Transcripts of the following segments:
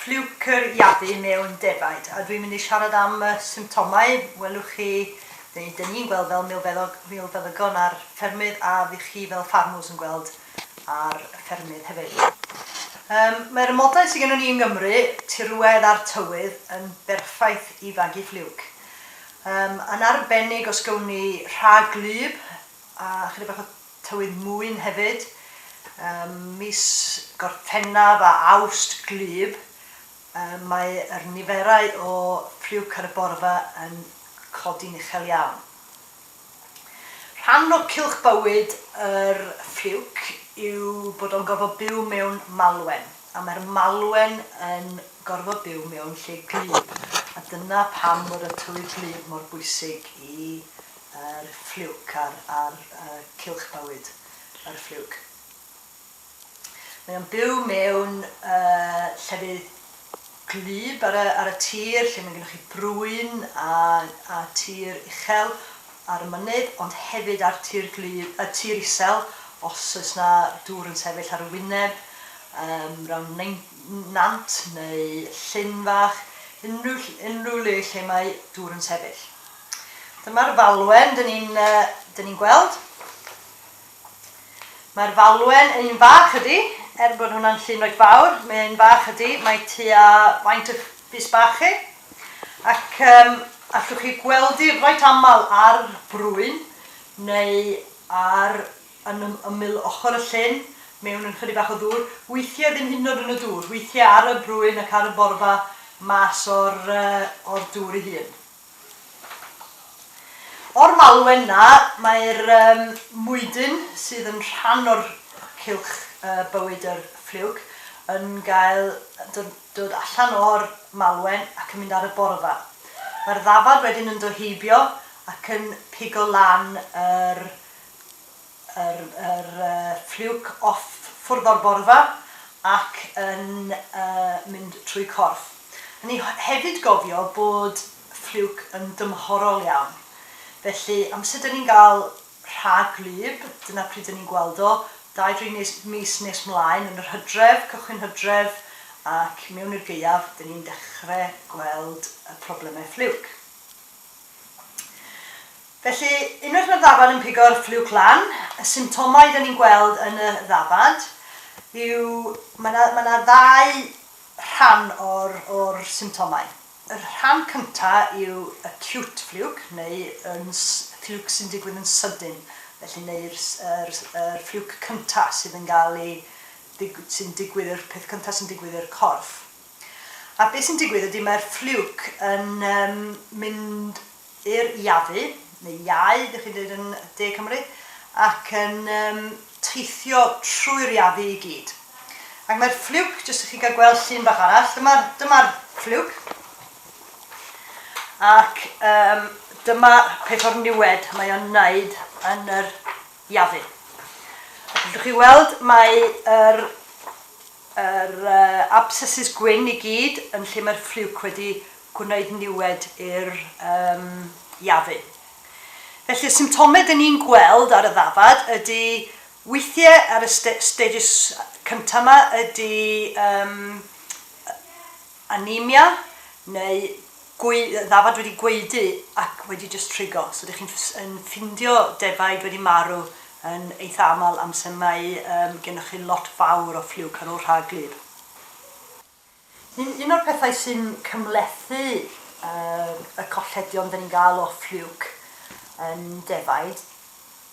Ffliwcr iadu mewn defaid. A dwi'n mynd i siarad am y symptomau, welwch chi, neu 'dyn ni'n gweld fel milfeddygon a'r ffermydd a fydd chi fel ffarmwrs yn gweld a'r ffermydd hefyd. Yym, mae'r amodau sydd gennym ni yng Nghymru, tirwedd a'r tywydd, yn berffaith i fagu ffliwc. Yym, yn arbennig os gawn ni rhag gwlyb a chydig bach o Tywydd mwyn hefyd. Ym mis Gorffennaf a Awst gwlyb mae yr niferau o friw caryborfa yn codi'n uchel iawn. Rhan o cylch bywyd yr friwc yw bod o'n gorfod byw mewn malwen, a mae'r malwen yn gorfod byw mewn lle gwlyb, a dyna pam fod y tywydd gwlyb mor bwysig i Yr ffliwc a'r a'r y cylch bywyd. Yr ffliwc. Mae o'n byw mewn y llefydd gwlyb ar y ar y tir lle mae gennych chi brwyn a a tir uchel ar y mynydd ond hefyd ar tir gwlyb y tir isel os oes na dŵr yn sefyll ar y wyneb yym rown nein- nant neu llyn fach unrhyw ll- unrhyw le lle mae dŵr yn sefyll. Dyma'r falwen dyn ni'n dyn ni'n gweld. Mae'r falwen yn un fach ydy, er bod hwnna'n llun reit fawr, mae'n un fach ydy, mae tua faint y bys bach chi. Ac um, allwch chi gweld i reit aml ar brwyn neu ar yn ymyl ochr y llyn mewn yn chydig bach o ddŵr, weithiau ddim hyd yn oed yn y dŵr, weithiau ar y brwyn ac ar y borfa mas o'r, uh, o'r dŵr ei hun. O'r malwen 'na, mae'r mwydyn sydd yn rhan o'r cylch bywyd yr ffliwc yn cael dod allan o'r malwen ac yn mynd ar y borfa. Mae'r ddafad wedyn yn dod heibio ac yn pigo lan yr yr yr ffliwc off ffwrdd o'r borfa ac yn mynd trwy corff. Rhaid ni hefyd gofio bod ffliwc yn dymhorol iawn. Felly, amser dyn ni'n gael rhag gwlyb, dyna pryd dyn ni'n gweld o, dau, dri nes mis nes mlaen, yn yr hydref, cychwyn hydref, ac mewn i'r gaeaf, dyn ni'n dechrau gweld y problemau ffliwc. Felly, unwaith mae'r ddafad yn pigo'r ffliwc lan, y symptomau dan ni'n gweld yn y ddafad yw, mae 'na mae 'na ddau rhan o'r o'r symptomau. Yr rhan cynta' yw acute fluke neu yn s- fluke sy'n digwydd yn sydyn, felly neu'r s- yr s- yr fluke cynta' sydd yn ga'l 'i ddigw- sy'n digwydd yr peth cynta' sy'n digwydd i'r corff. A be sy'n digwydd ydy mae'r ffliwc yn um, mynd i'r iafu, neu iau, ydych chi'n dweud yn De Cymru, ac yn um, teithio trwy'r iafu i gyd. Ac mae'r ffliwc, jyst i chi gael gweld llun bach arall, dyma'r dyma ffliwc. Ac um, dyma peth o'r niwed mae o'n wneud yn yr iafu. Ac chi weld mae'r er Yr abscesses gwyn i gyd yn lle mae'r ffliwc wedi gwneud niwed i'r iafu. Felly y symptomau dyn ni'n gweld ar y ddafad ydy weithiau ar y stages cyntaf yma ydy anemia neu gwe- ddafad wedi gwaedu ac wedi jyst trigo. So dych chi'n ff- yn ffindio defaid wedi marw yn eitha aml amser mae yym gennych chi lot fawr o ffliwc ar ôl rhag gwlyb. Un un o'r pethau sy'n cymhlethu yy y colledion 'dan ni'n ga'l o ffliwc yn defaid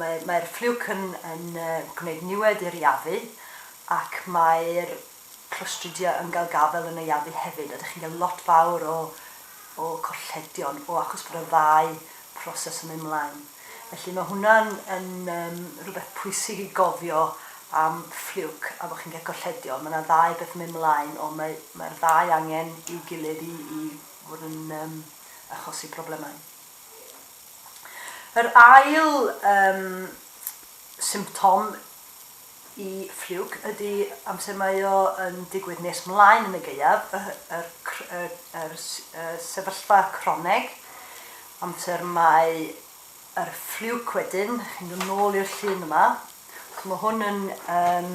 Mae'r ffliwc yn gwneud niwed i'r Iafu ac mae'r Clostridia yn cael gafael yn y Iafu hefyd a dych chi'n cael lot fawr o colledion o achos bod y ddau proses yn mynd mlaen. Felly mae hwnna'n rhywbeth pwysig i gofio am ffliwc a bod chi'n cael colledion. Mae 'na ddau beth yn mynd mlaen ond mae'r ddau angen i'w gilydd i fod yn achosi problemau. Yr ail yym symptom i fluke ydy amser mae o yn digwydd nes mlaen yn y gaeaf, y yr cr- y yr s- y sefyllfa croneg, amser mae yr fluke wedyn, chi'n dod nôl i'r llun yma, so ma' hwn yn yym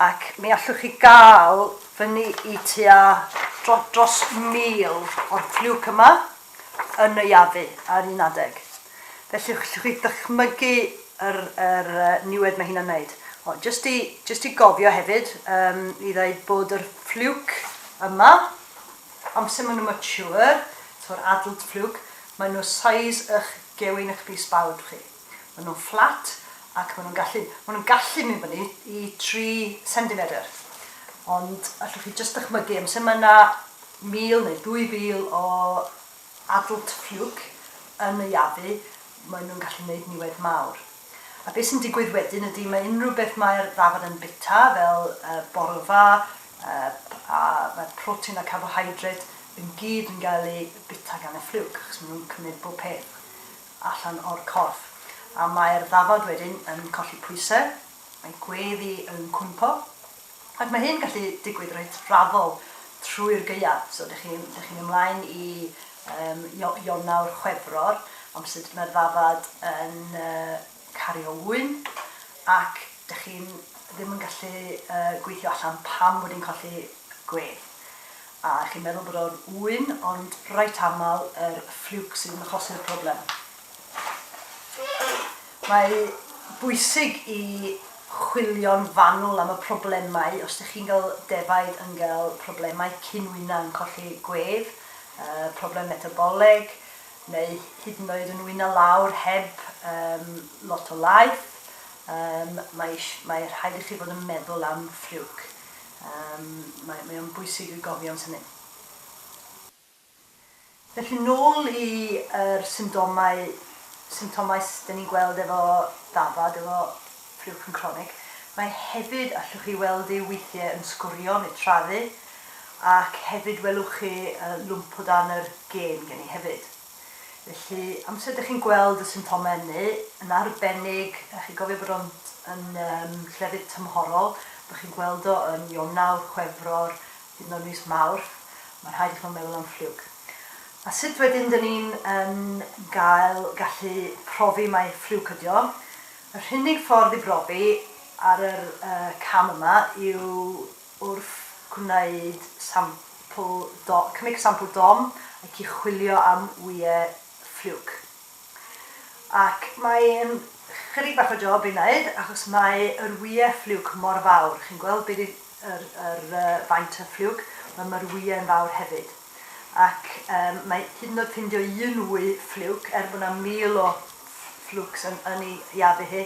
ac mi allwch chi gael fyny i tua dro, dros mil o'r ffliwc yma yn y Yavi ar un adeg. Felly allwch chi ddychmygu yr, yr uh, niwed mae hynna'n wneud. O, just, i, just i gofio hefyd um, i ddeud bod yr ffliwc yma, amser maen nhw'n mature, to'r adult ffliwc, maen nhw size ych gewyn ych bys bawd chi. Maen nhw'n fflat ac maen nhw'n gallu, maen nhw'n gallu mynd fyny i 3 cendimedr. Ond allwch chi jyst dychmygu, amser mae yna 1,000 neu 2,000 o adult ffiwc yn y iabu, maen nhw'n gallu gwneud niwed mawr. A beth sy'n digwydd wedyn ydy mae unrhyw beth mae'r ddafad yn bita, fel y borfa, a mae'r protein a carbohydrate yn gyd yn cael ei bita gan y ffiwc, achos maen nhw'n cymryd bob peth. allan o'r corff, a mae'r ddafad wedyn yn colli pwysau, mae gweddi yn cwympo, ac mae hyn gallu digwydd reit raddol trwy'r gaeaf. So, dych chi'n dych chi'n mynd mlaen i um, Ionawr, Chwefror, amser mae'r ddafad yn uh, cario ŵyn, ac dych chi'n ddim yn gallu uh, gweithio allan pam bod hi'n colli gwedd. A chi'n meddwl bod o'n ŵyn, ond reit aml yr ffliwc sydd yn achosi'r problem. Mae bwysig i chwilio'n fanwl am y problemau, os dych chi'n cael defaid yn cael problemau cyn wyna yn colli gwedd, problem metaboleg, neu hyd yn oed yn wyna lawr heb lot o laeth, mae rhaid i chi fod yn meddwl am ffliwc. Yym, mae, mae o'n bwysig i gofio am hynny. Felly, nôl i yr symptomau, symptomaes dyn ni'n gweld efo dafad, efo ffriwcyn cronig. Mae hefyd, allwch chi weld e weithiau yn sgwrio neu traddu, ac hefyd welwch chi lwmp o dan yr gên gen i hefyd. Felly, amser dych chi'n gweld y symptomau ynny, yn arbennig, a chi'n cofio bod o'n yn yym llefydd tymhorol, bod chi'n gweld o yn Ionawr, Chwefror, hyd yn oed mis Mawrth, mae'n rhaid i chi fod yn meddwl am ffliwg. A sut wedyn dyn ni'n yn gael gallu profi mai ffliwc ydy o? Yr unig ffordd i brofi ar yr yy cam yma yw Wrth gwneud sampl dom, cymig sampl dom ac i chwilio am wyau ffliwc. Ac mae'n chydig bach o job i wneud achos mae yr wyau ffliwc mor fawr, chi'n gweld be 'di yr yr yy faint y ffliwc, wel ma'r wyau'n fawr hefyd. ac yym mae hyd yn oed ffindio un wy ffliwc, er bod 'na mil o ffliwcs yn yn 'i iafu hi,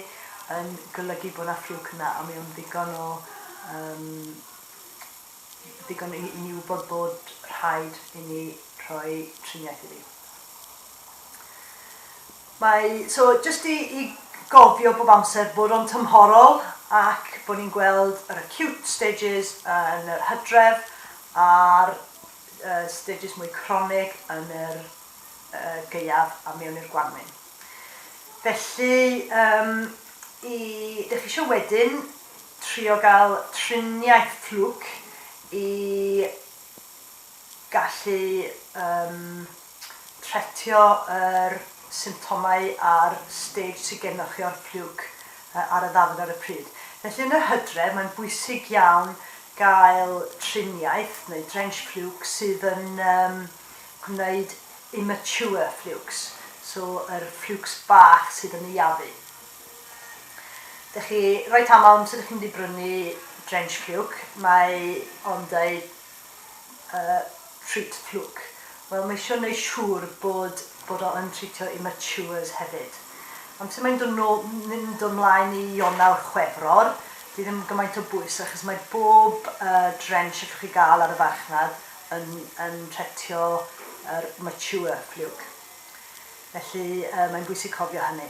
yn golygu bod 'na ffliwc yna, a mae o'n ddigon o yym ddigon i i ni wybod bod rhaid i ni rhoi triniaeth iddi. Mae, so, jyst i i gofio bob amser bod o'n tymhorol ac bod ni'n gweld yr acute stages yn yr hydref a'r yy stages mwy cronig yn yr yy gaeaf a mewn i'r gwanwyn. Felly yym i, dych chi isio wedyn trio gael triniaeth Fluke i gallu yym Tretio yr symptomau ar stêj sydd gennych chi o'r ffliwc ar y ddafod ar y pryd. Felly yn yr hydref mae'n bwysig iawn gael triniaeth neu drench ffliwc sydd yn gwneud immature ffliwcs, so yr ffliwcs bach sydd yn naeafu. Dych chi, reit aml amser dych chi'n mynd i brynu drench ffliwc mae o'n dweud yy treat plwc. Wel mae isio neu siŵr bod bod o yn treatio immatures hefyd. Amser mae'n do no- mynd o mlaen i Ionawr, Chwefror, dyw ddim gymaint o bwys achos mae bob yy drench allwch chi ga'l ar y farchnad yn yn tretio yr mature ffliwc. Felly yy mae'n bwysig cofio hynny.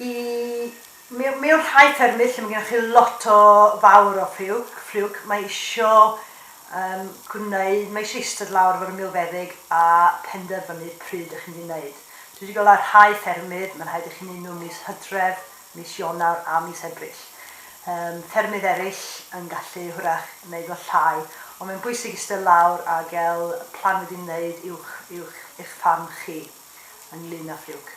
I Mewn rhai ffermydd lle mae gennych chi lot o fawr o ffliwc, fluke, mae isio yym gwneud, mae isio eistedd lawr efo'r milfeddyg a penderfynu pryd dych chi'n mynd i wneud. Dwi 'di gweld ar rhai ffermydd mae'n rhaid i chi wneud nhw mis Hydref, mis Ionawr a mis Ebrill. Yym ffermydd eraill yn gallu hwyrach wneud nhw llai, ond mae'n bwysig eistedd lawr a gael plan wedi wneud i'w i'w eich ffarm chi ynglŷn â ffliwc.